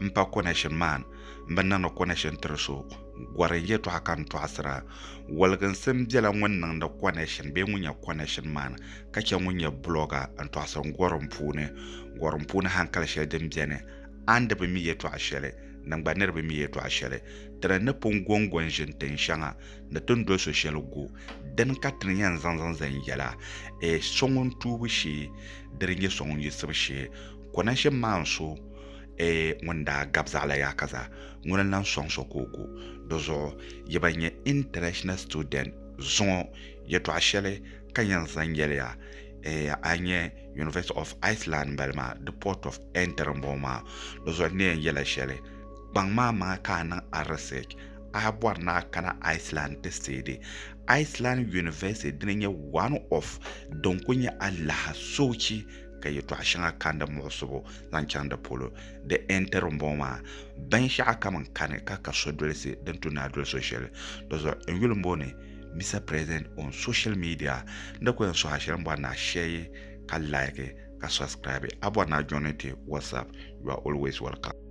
n pa konɛshin maan n bi niŋdi konɛshin tiri so gɔri n yɛtɔɣa ka n tɔɣisira. Waliginsim bela ŋun niŋdi konɛshin bee ŋun nyɛ konɛshin maan ka chɛ ŋun nyɛ bulɔga n tɔɣisiri gɔrim puuni. Gɔrim puuni hankali shɛli din beni, a ni di bi mi yɛtɔɣa shɛli, din gba niri bi mi yɛtɔɣa shɛli. Ti ni ni pun gɔŋgɔ n-ʒini tin shɛŋa ni ti ni doli so shɛli gu, dini ka ti ni yɛn zaŋ zaŋ zani yɛla, Ee so ŋun tuubu shee, di di nyɛ so ŋun yiɣisibu shee. Konashe maan so ee ŋun daa gab zaɣila yaa ka zaa, ŋuni n-lan sɔŋ so ka o gu. Di zuɣu yi ba nyɛ international student zuŋɔ yɛtɔɣa shɛli ka yɛn zaŋ yɛli ya ee a nyɛ University of Iceland m-bala maa di port of entry m-bɔŋɔ maa. Di zuɣu n ni yɛn yɛla shɛli kpaŋ maa maa ka a niŋ a research a bɔri ni a kana Iceland ti seedi Iceland University dini nyɛ one of din kuli nyɛ alaha soochi ka yɛtɔɣ shɛŋa kani di muɣisibu zaŋ chaŋ di polo. Di ɛntiri m-bɔŋɔ maa, binshɛɣu kam n-kani ka ka so dolisi din tu ni a doli so shɛli. Dɔzuɣu n yuli m-bo ni, Mister President on social media, n di ku yɛn sɔhi a shɛli m-bɔri ni a share ka like ka subscribe. A bɔri ni a joini ti WhatsApp, you are always welcome.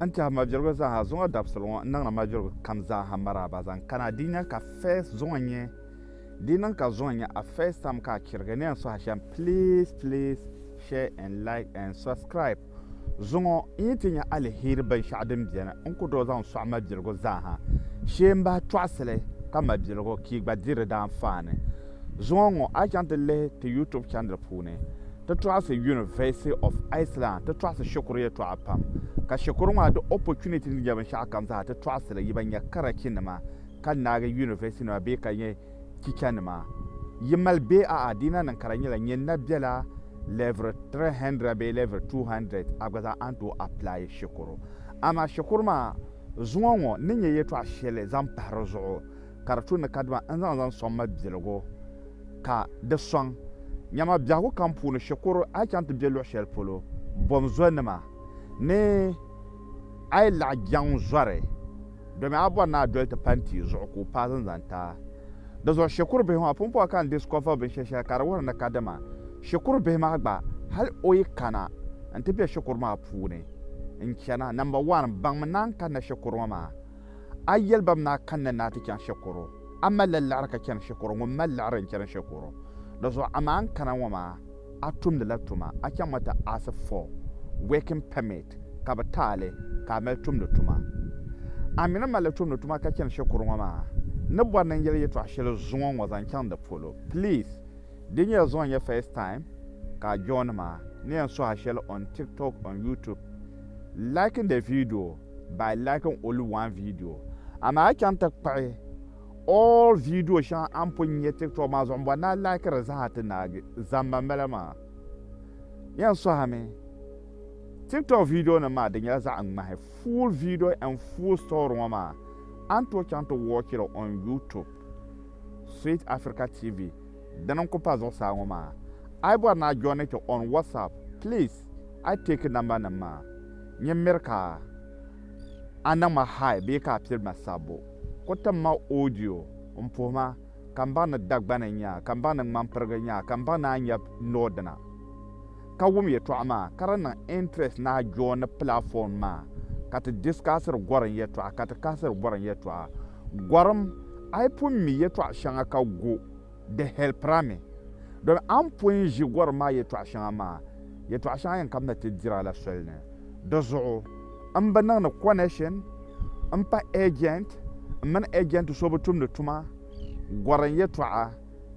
N tɛha mabirigu zaaha zuŋɔ dabisili ŋɔ n niŋla mabirigu kam zaaha maraaba zaŋ kana di nya ka first zuŋɔ nyɛ di niŋ ka zuŋɔ nyɛ a first time ka a chirigi ni yɛn suhi shɛm please please share and like and subscribe zuŋɔ n yi ti nya alihiri binshɛɣu din biɛni n ku doo zaŋ sɔɣi mabirigu zaaha shee n bahi tɔɣisili ka mabirigu ka i gba di di daanfaani zuŋɔ ŋɔ a chaŋ ti lihi ti youtube channel puuni Ti tɔɣisi University of Iceland ti tɔɣisi shikuru yɛtɔɣa pam, ka shikuru maa di opportunity ni nya binshɛɣu kam zaa ti tɔɣisi li, yi ban nya karachi nima ka naagi University nima bee ka nyɛ teacher nima yi mali bee a'a dina niŋ ka di nyɛla nyɛ na bela level 300 bee level 200 a gba zaa a ni tooi apply shikuru. Amaa shikuru maa zuŋɔ ŋɔ ni nyɛ yɛtɔɣa shɛli zaŋ pahi di zuɣu ka di tu ni kadama n zaŋ zaŋ sɔŋ ma biɛligu ka di sɔŋ nyama biɛhigu kam puuni shikuru a yi chaŋ ti be luɣ shɛli polo bom zonima ni a yi laɣ jɛŋ zɔri domi a bɔri ni a doli ti pa n-tia zuɣu ka o paai zinzanta di zuɣu shikuru bihi maa pumpɔŋɔ ka n discover binshɛli shɛli ka di wuhiri ni kadama shikuru bihi maa gba hal o yi kana n-ti be shikuru maa puuni n-chana number one baŋmi ni a ni kanna shikuru ŋɔ maa A yɛli ba mi ni a kanna ni a ti chaŋ shɛkuru, a malila liɣiri ka chani shɛkuru, ŋun mali liɣiri n-chani shɛkuru. Dizuɣu amaa n kana ŋɔ maa, a tumdila tuma, a chaŋmi ti ask for working permit ka bɛ ti a li ka a mali tumdi tuma. A mi ni malila tumdi tuma ka chani shɛkuru ŋɔ maa, n ni bɔri ni n yɛli yɛtɔɣ shɛli zuŋɔ ŋɔ zaŋ chaŋ di polo. Please, di nyɛla zuŋɔ n-nyɛ first time ka a join ma ni yɛn suhi a shɛli on TikTok, on YouTube. Liking the video. by liking only one video amaa a chaŋ ti kpuɣi all video shɛŋa a ni pun nya tiktok maa zuɣu m-bɔri ni a like di zaa ti naagi zamba m-bala maa yɛn sɔhimi tiktok video nim maa di nyɛla zaɣ ŋmahi full video and full story ŋɔ maa a ni tooi chaŋ ti watch li on youtube sweet africa tv dini n-ku pa zuɣusaa ŋɔ maa a yi bɔri ni a join ti on whatsapp please A yi teeki nambanim maa, nyin miri ka a niŋ ma high bee ka a piri ma sabbu. Ku tim ma audio m-puhi ma ka m baŋ ni Dagbani n-nyɛ a, ka m baŋ ni Ŋmanpirigi n-nyɛ a, ka m baŋ ni a nyɛ Nordina. Ka wum yɛtɔɣa maa, ka di niŋ interest ni a joini platform maa ka ti discussiri Gorim yɛtɔɣa, ka ti kahasiri Gorim yɛtɔɣa. Gorim, a yi pun mi yɛtɔɣ shɛŋa ka gu. Di hɛlpirila mi domi a ni pɔi ʒi gɔrim maa yɛtɔɣ shɛŋa maa, yɛtɔɣ shɛŋa yɛn kamina ti dira la soli ni. Di zuɣu m bi niŋdi kɔnɛshin m-pa ɛjɛnt, m mini ɛjɛnt so bi tumdi tuma gɔrim yɛtɔɣa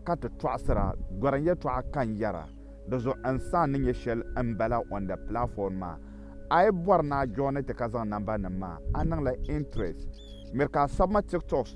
ka ti tɔɣisira gɔrim yɛtɔɣa ka n yɛra. Di zuɣu n saha ni nyɛ shɛli m bala on the platform maa. A yi bɔri ni a joini ti ka zaŋ nambanima maa, a niŋla interest. Miri ka a sabi ma tiktoks.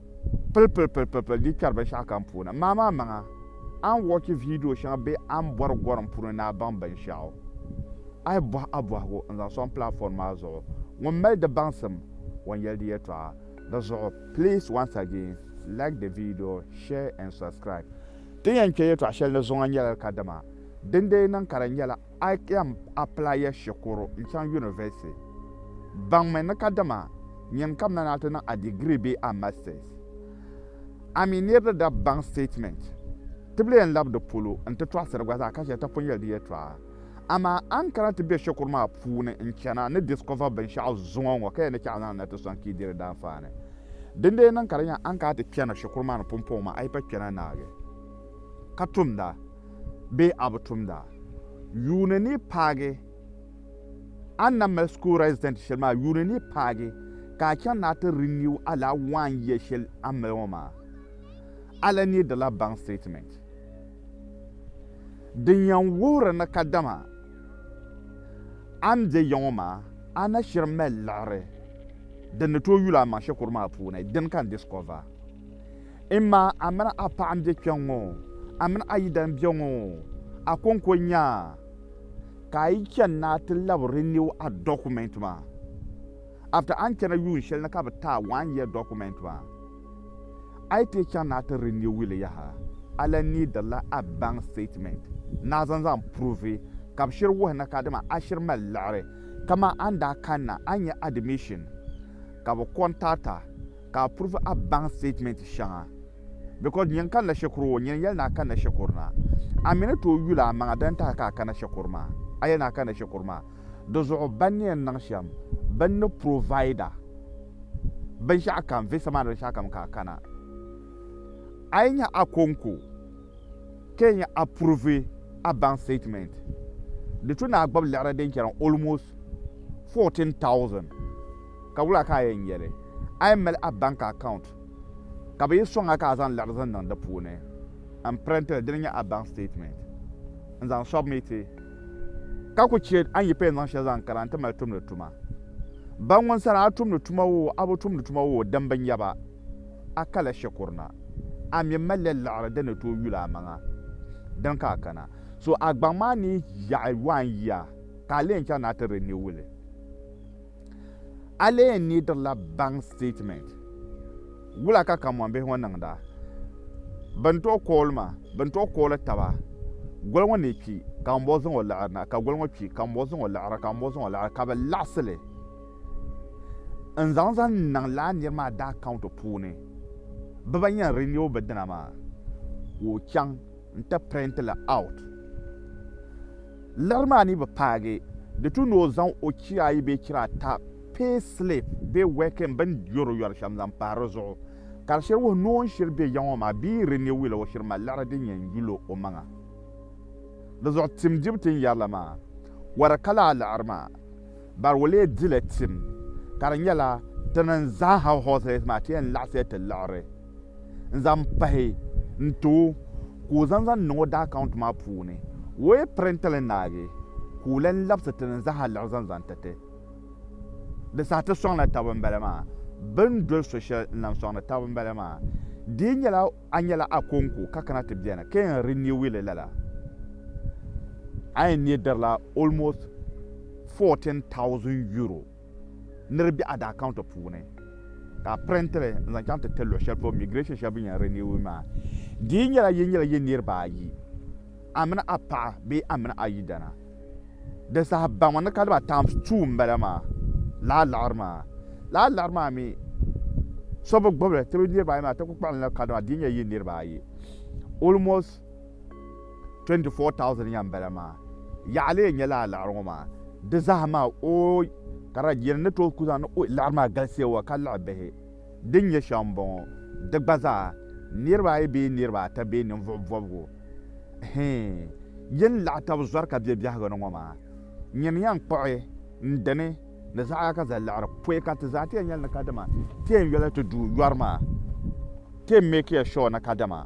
Pili pili pili pili pili di kpɛri binshɛɣu kam puuni. Maa maa maŋa a ni wɔchi viidiyo shɛŋa bee a ni bɔri gɔrim puuni ni a baŋ binshɛɣu, a yi bɔhi a bɔhigu n-zaŋ sɔŋ platform maa zuɣu. Ŋun mali di baŋsim o ni yɛli di yɛltɔɣa. Di zuɣu please once again like the video, share and subscribe. Ti ni yɛn kpe yɛltɔɣa shɛli ni zuŋɔ nyɛla li kadama dindee niŋ ka di nyɛla. I can apply ya shikuru n chaŋ yunivɛsiti. Baŋmi ni kadama nyin ka mani a ti niŋ a degree bee a masters. A mi nir di da baŋ statement tibili yɛn lab di polo n ti tɔɣisiri gba zaa ka chɛ ti pun yɛli di yɛtɔɣa. Amaa a ni kana ti be shikuru maa puuni n chana ni discover binshɛɣu zuŋɔ ŋɔ ka yɛn ni chɛ a zaŋ li na ti sɔŋ ka yi di di daanfaani. Dindee niŋ ka di nya a ni kana ti kpɛna shikuru maa ni pumpɔŋɔ maa a yi pa kpɛna naagi ka tumda. bee a bi tumda yuuni ni paagi a ni na mali school resident shɛli maa yuuni ni paagi ka a chaŋ ni a ti renew a laa one year shɛli a ni mali ŋɔ maa, a lahi needila bank statement din yɛn wuhiri ni kadama a ni be ya ŋɔ maa a na shiri mali liɣiri din ni tooi yuli a maŋ shikuru maa puuni, dini ka n discover. Mma, a mini a paɣa m-be kpe ŋ-ŋɔ, a mini a yidana m-be ŋ-ŋɔ, a kɔŋko n-nya ka a yi chani ni a ti lab renew a document maa after a ni chana yuun shɛli ni ka bɛ ti a one year document maa. A yi ti chaŋ ni a ti renew li yaha, a lan needirila a bank statement ni a zaŋ zaŋ pruvi ka bɛ shiri wuhi ni kadama a shiri mali liɣiri. Kaman a ni daa kanna a ni nya admission ka bɛ contact a. Ka a purvi a baŋ statement shɛŋa because nyin kanila shɛkuri o nyin yɛli ni a kanila shɛkuri na. A mi ni tooi yuli a maŋa di ni tahi ka a kana shɛkuri maa. A yɛli ni a kanila shɛkuri maa. Di zuɣu ban ni yɛn niŋ shɛm bini ni provide a binshɛɣu kam visa maa ni binshɛɣu kam ka a kana. A yi nya a ko n ko ka yi nya a purvi a baŋ statement di tu ni a gbubi liɣiri din chani almost 14,000. Ka wula ka a yɛn yɛli? A yɛn mali a bank account ka bɛ yi sɔŋ a ka a zaŋ liɣiri zaŋ niŋ di puuni m-print li, dini nyɛ a bank statement, n-zaŋ submiti. Ka ku chɛ a ni yi payɛn zaŋ shɛli zaŋ kana nti mali tumdi tuma. Ban ŋun sani a tumdi tuma woo a bi tumdi tuma woo din bi nya ba, a kala shikuru na. A mi malila liɣiri din ni tooi yuli amaŋa, dini ka a kana. So a gbaŋ maa ni yi yaɣi waan yia, ka a leei n-chaŋ ni a ti renew li. A lee niidirila bank statement. Wula ka kamɔmbihi ŋɔ niŋda? Bɛ ni tooi kooli ma, bɛ ni tooi kooli taba. Goli ŋɔ ni kpi, ka ŋunbɔŋɔ zaŋ o liɣiri na, ka goli ŋɔ kpi, ka ŋunbɔŋɔ zaŋ o liɣiri, ka ŋunbɔŋɔ zaŋ o liɣiri, ka bɛ laɣisi li n-zaŋ zaŋ niŋ lala nir maa daa account puuni. Bɛ ba yɛn renew bɛ dina maa, ka o chaŋ. n ti print li out. Liɣiri maa ni bi paagi di tu ni o zaŋ o chira ayi bee chira ata pay slip bee working bin yɔri yɔri shɛm zaŋ pahi di zuɣu ka di shiri wuhi ni o ni shiri be ya ŋɔ maa bee renewil o shiri mali liɣiri din yɛn yuli o maŋa. Di zuɣu tim dibu ti ni yɛri la maa wari ka laa liɣiri maa bari o lee dila tim ka di nyɛla ti ni zaaha horse race maa ti yɛn laɣisiya ti liɣiri. n zaŋ pahi n ti o ka o zaŋ zaŋ niŋ o daa akawunti maa puuni o yi pirinti li naagi ka o lan labisi ti ni zaa liɣi zaŋ zaŋ ti ti di saha ti sɔŋla taba n bala maa bɛ ni doli so shɛli n lan sɔŋdi taba n bala maa di yi nyɛla a nyɛla Akonko ka kana ti beni ka yɛn riniwi li lala a yɛn neei dirila almost €14,000 Ni di be a daa kaunta puuni ka a pirenti li n zaŋ chaŋ ti ti luɣi shɛli polo migirɛshin shɛli bini yɛn riniwu maa. Di yi nyɛla yi nyɛla yi niriba ayi, a mini a paɣa bee a mini a yidana, di saha baŋ ni ka diba times two m bala maa, lala liɣiri maa. Lala liɣiri maa mi so bi gbubi li ti bi niriba ayi maa ti ku kpuɣi li ni ka diba di yi nyɛla yi niriba ayi almost. 24,000 nya m-bala maa. Yaɣili yɛn nyɛla a liɣiri ŋɔ maa. Di zaa maa ooy! Ka di yɛn ni tooi ku zaŋ ni ooy liɣiri maa galisiya wa ka liɣi bihi din nyɛ shɛm m-bɔŋɔ. Di gba zaa, niriba ayi bee niriba ata bee ninvuɣ bɔbigu hii yɛn laɣi tab zɔri ka be biɛhigu ni ŋɔ maa. Nyini yɛn kpuɣi n dini ni zaɣa ka zali liɣiri pɔi ka ti zaa ti yɛn nyɛli ni kadama ti yɛn yoli ti du yɔri maa ti yɛn meekiya shuwa ni kadama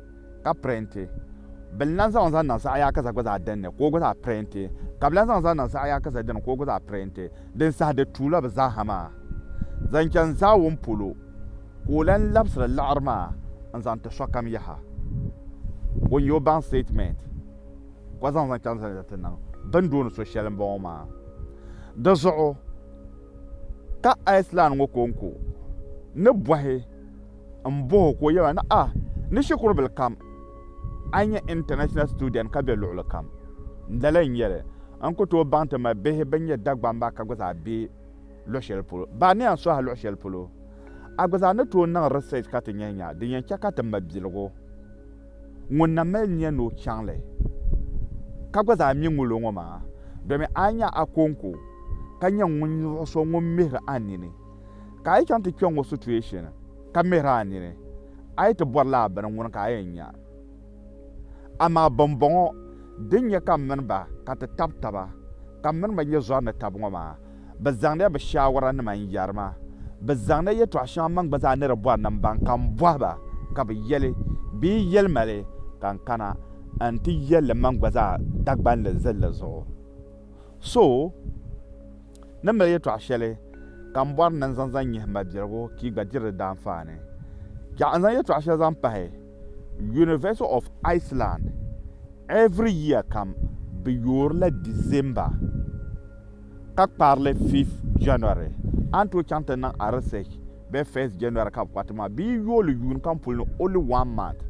ka pirenti. Bɛ ni lan zaŋ n zaŋ niŋ saɣiyaakaza gba zaa dini, ka o gba zaa pirenti. Ka bɛ lan zaŋ n zaŋ niŋ saɣiyaakaza dini, ka o gba zaa pirenti. Din saha di tuula bɛ zaaha maa zaŋ chani zaawuni polo, ka o lan labisiri liɣiri maa n zaŋ ti sokam yaha. O ni yo baŋ statement ka zaŋ zaŋ chani zani ti niŋ bɛ ni dooni so shɛli m-bɔŋɔ maa. Di zuɣu ka Iceland ŋɔ konko ni bɔhi. N bɔh o ka o yɛli ma ni, A ni shikuru bil kam, a ni nyɛ international student ka be luɣili kam. N dali n yɛli, N ku tooi baŋ ti mali bihi bɛn nyɛ Dagbaŋ maa ka gba zaa be luɣ shɛli polo. Baa ni yɛn sɔhi a luɣ shɛli polo, a gba zaa ni tooi niŋ research ka ti nya nya din yɛn chɛ ka ti ma biligu ŋun na mali nia ni o chaŋ li ka gba zaa mi ŋulo ŋɔ maa domin a ni nya a kɔŋko ka nya ŋun luɣ so ŋun mihiri a nini. Ka a yi chaŋ ti kpe ŋɔ situation ka mihiri a nini, a yi ti bɔri la a bini ŋuni ka a yɛn nya? Amaa bimbɔŋɔ din nyɛ ka m mini ba ka ti tab taba, ka m mini ba nyɛ zɔri ni tab ŋɔ maa, bɛ zaŋdila bɛ shaawaranima n-yɛri ma. Bɛ zaŋdila yɛtɔɣ shɛŋa m maŋ gba zaa ni di bɔri ni m baŋ ka m bɔhi ba, ka bɛ yɛli, Bɛ yi yɛli ma li, ka n kana nti yɛl li m maŋ gba zaa Dagbani zilli zuɣu. So! Ni mali yɛtɔɣ shɛli ka m bɔri ni n zaŋ zaŋ nyihi m ma Birigu ka yi gba diri di daanfaani. Chɛɣu n zaŋ yɛtɔɣ shɛli zaŋ pahi, University of Iceland every year kam bɛ yoori la December ka kpaari li fifth January. A ni tooi chaŋ ti niŋ a research bee first January ka bɛ kpari ti maa bee yi yooi li yuun kam puli ni only one month.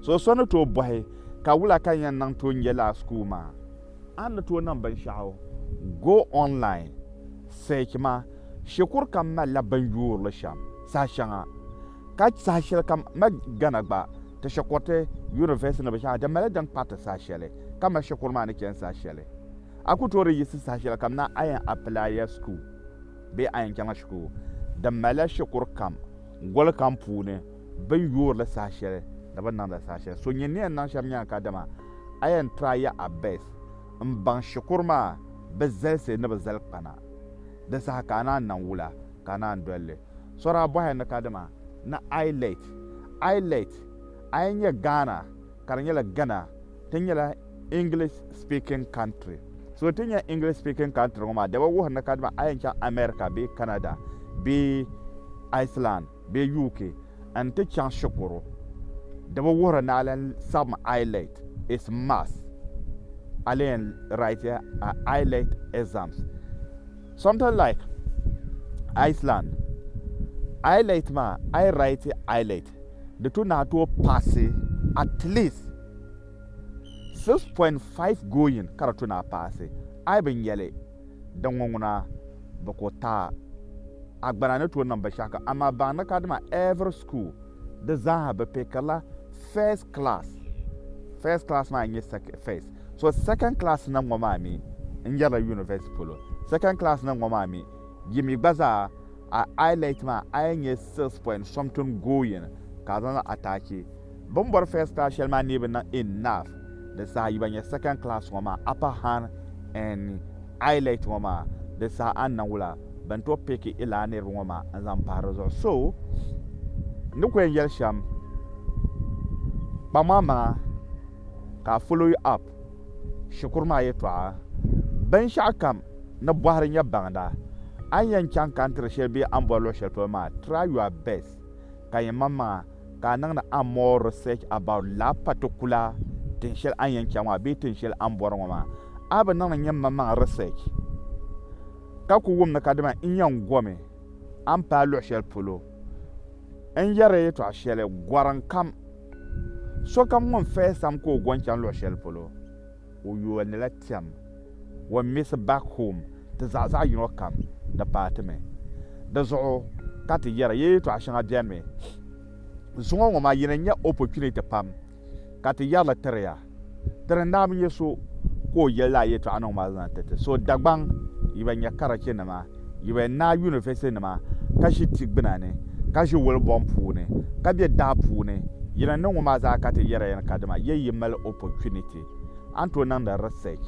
So so ni tooi bɔhi ka wula ka ni yɛn niŋ tooi n-je lala school maa? A ni tooi niŋ binshɛɣu Go Online Search maa, shikuru kam malila bini yuuri li shɛm saha shɛŋa, ka saha shɛli kam ma Ghana gba ti shikuriti, university ni binshɛɣu di mali din kpariti saha shɛli ka ma shikuru maa ni chani saha shɛli. A ku tooi di yiɣisi saha shɛli kam ni a yɛn apilaiya shikuru bee a yɛn chaŋla shikuru, di malila shikuru kam goli kam puuni. Bɛ ni yoori li saha shɛli ni bɛ ni niŋdi li saha shɛli. So nyɛ ni yɛn niŋ shɛm nya kadama a yɛn try ya a best m-baŋ shikuru maa bɛ zalisi ni bɛ zali kpana di saha ka a naan niŋ wula ka a naan doli li. So daa bɔhila ni kadama ni I let I let a yɛn nya Ghana ka di nyɛla Gana ti nyɛla English speaking country. So ti nya English speaking country ŋɔ maa daba wuhiri ni kadama a yɛn chaŋ America bee Canada bee Iceland. bee UK n ti chaŋ shikuru di bi wuhiri ni a lan saɣim I let is must a lee n write a I let exams something like Iceland I let maa a yi write I let di tu ni a tooi paasi at least 6.5 going ka di tu ni a paasi I bi nyɛli Di ŋɔ ŋuna, bɛ ko taa. Agbana ni tooi niŋ binshɛɣu kam, amaa baŋdi ka dama every school di zaaha bɛ pickirila first class. First class maa n-nyɛ first. So second class na ŋɔ maa mi n-nyɛrila university polo. Second class na ŋɔ maa mi yi mi gba zaa a ILET maa a yɛn nyɛ six point something going ka a zaŋ niŋ attach. Bɛ ni bɔri first class shɛli maa neei bi niŋ enough di saha yi ba nya second class ŋɔ maa upper hand and eyelect ŋɔ maa di saha a ni niŋ wula bɛ ni tooi pick i lala niriba ŋɔ maa n zaŋ pahi di zuɣu so n ni ku yɛn yɛli shɛm kpaŋmaŋ maŋa ka a follow you up shikuru maa yɛtɔɣa binshɛɣu kam ni bɔhiri nyɛ baŋda a ni yɛn chaŋ ka n tiri shɛli bee a ni bɔri luɣi shɛli polo maa try your best ka nyɛ maŋmaŋa ka a niŋdi a more research about la particular tin shɛli a ni yɛn chaŋ maa bee tin shɛli a ni bɔri ŋɔ maa. A bi niŋdi nyɛmmaŋmaŋ research ka ku wum ni ka dama n yɛn gomi a ni paai luɣ shɛli polo. N yɛri ya yɛtɔɣ shɛli, gɔrim kam, sokam ŋun fahisa mi ka o go n-chaŋ luɣ shɛli polo. O yolila tiɛm wan misi back home ti zaɣ zaɣ yino kam ni paati mi. Di zuɣu ka ti yɛra ya yɛtɔɣa shɛŋa beni mi. Zuŋɔ ŋɔ maa yi ni nya opportunity pam ka ti yɛrili tiri ya. Tiri naa bi nya so ka o yɛli lala yɛtɔɣa niŋ ma zaŋ ti ti. So Dagbaŋ yi ba nya karachi nima. Yi bɛ naai yunivɛsitinima ka ʒi ti gbuna ni, ka ʒi wuli bɔŋ puuni, ka be daa puuni, yi ni niŋ ŋɔmaa zaa ka ti yɛri ya ni kadama yɛ yi mali opportunity a ni tooi niŋdi research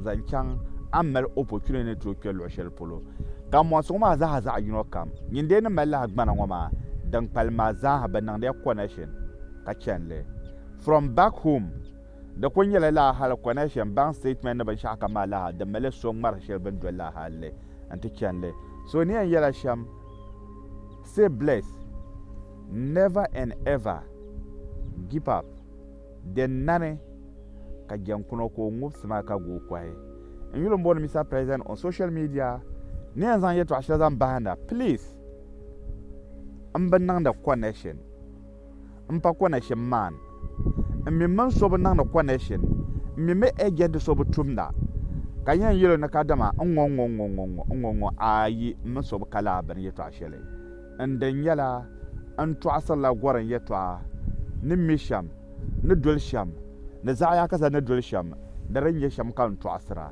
zaŋ chaŋ a ni mali opportunity ni tooi kpe luɣ'shɛli polo. Ka mɔŋsi ŋɔmaa zaa zaɣ'yino kam, nyin dee ni mali lahi gbana ŋɔmaa din kpalim maa zaa ha bɛ niŋdi ya connection ka chani li from back home Di kuli nyɛla lala hali connection, bank statement ni binshɛɣu kam maa lala di mali so ŋmari shɛli bini doli lala hali li nti chani li. So ni yɛn yɛla shɛm stay blessed never and ever gip up din nani ka jɛnkuna ka o ŋub sima ka guui kɔhi n yuli m bɔni Mister President on social media ni yɛn zaŋ yɛtɔɣa shɛli zaŋ bahinda please m bi niŋdi connection n pa konɛshin maan. N mi mini so bi niŋdi konɛshin. N mi mi ɛjɛnti so bi tumda, ka yɛn yɛl o ni ka dama n ŋɔ ŋɔ ŋɔ ŋɔ ŋɔ ŋɔ ŋɔ ayi m mi so bi ka laa bini yɛtɔɣ shɛli. N din nyɛla, n tɔɣisirila gorim yɛtɔɣa ni mi shɛm, ni doli shɛm, ni zaɣ yaakasa ni doli shɛm, di din nyɛ shɛm ka n tɔɣisira.